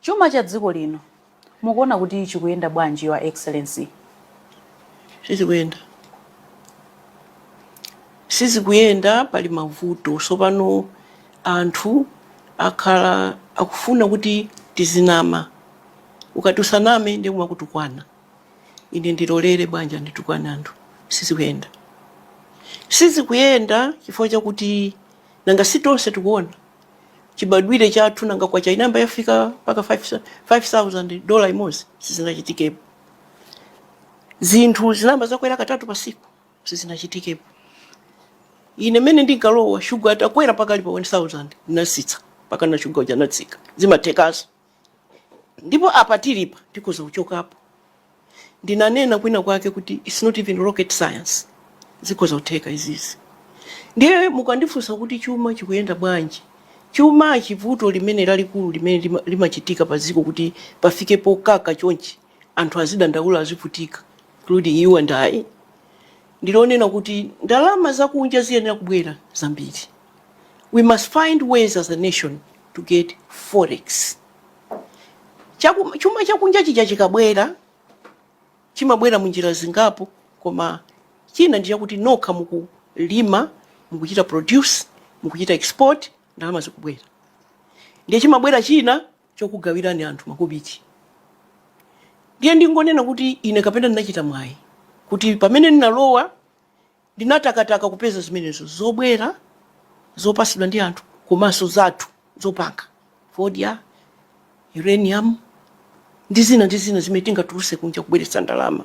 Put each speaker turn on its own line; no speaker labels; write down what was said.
Chuma cha dziko lino mukuona kuti chikuyenda bwanji your excellency?
Sizikuyenda. Sizikuyenda pali mavuto. Sopano anthu akhala akufuna kuti tizinama. Ukati usaname ndiye amakutukwana. Ine ndilolere bwanji anditukwane anthu. Sizikuyenda. Sizikuyenda chifukwa chakuti nanga si tonse tikuona. chibadwire chathu nanga kwacha inayamba yafika mpaka 5000 dola imodzi sizinachitikepo zinthu zinayamba zakwera katatu pasiku sizinachitikepo ine mmene ndinkalowa shuga atakwera mpaka ali pa 1000 ndinatsitsa mpaka na shuga uja anatsika zimathekanso ndipo apa tilipa tikhoza kuchokapo. Ndinanena kwina kwake kuti it's not even rocket science, zikhoza kutheka izizi. Ndiye mukandifunsa kuti chuma chikuyenda bwanji, chuma chivuto limene lalikulu limene limachitika pa dziko kuti pafike pokaka chonchi anthu azidandaula azivutika including you and I ndilonena kuti ndalama zakunja ziyenera kubwera zambiri we must find ways as a nation to get forex chuma chakunja chija chikabwera chimabwera munjira zingapo koma china ndi chakuti nokha mukulima mukuchita produce mukuchita export ndalama zikubwera ndiye chimabwera china chokugawirani anthu makobiti ndiye ndingonena kuti ine kapena ndinachita mwayi kuti pamene ndinalowa Ndinatakataka kupeza zimenezo zobwera zopatsidwa ndi anthu komanso zathu zopanga, fodya, uranium, ndi zina ndi zina zimene tingatulutse kunja kubweretsa ndalama.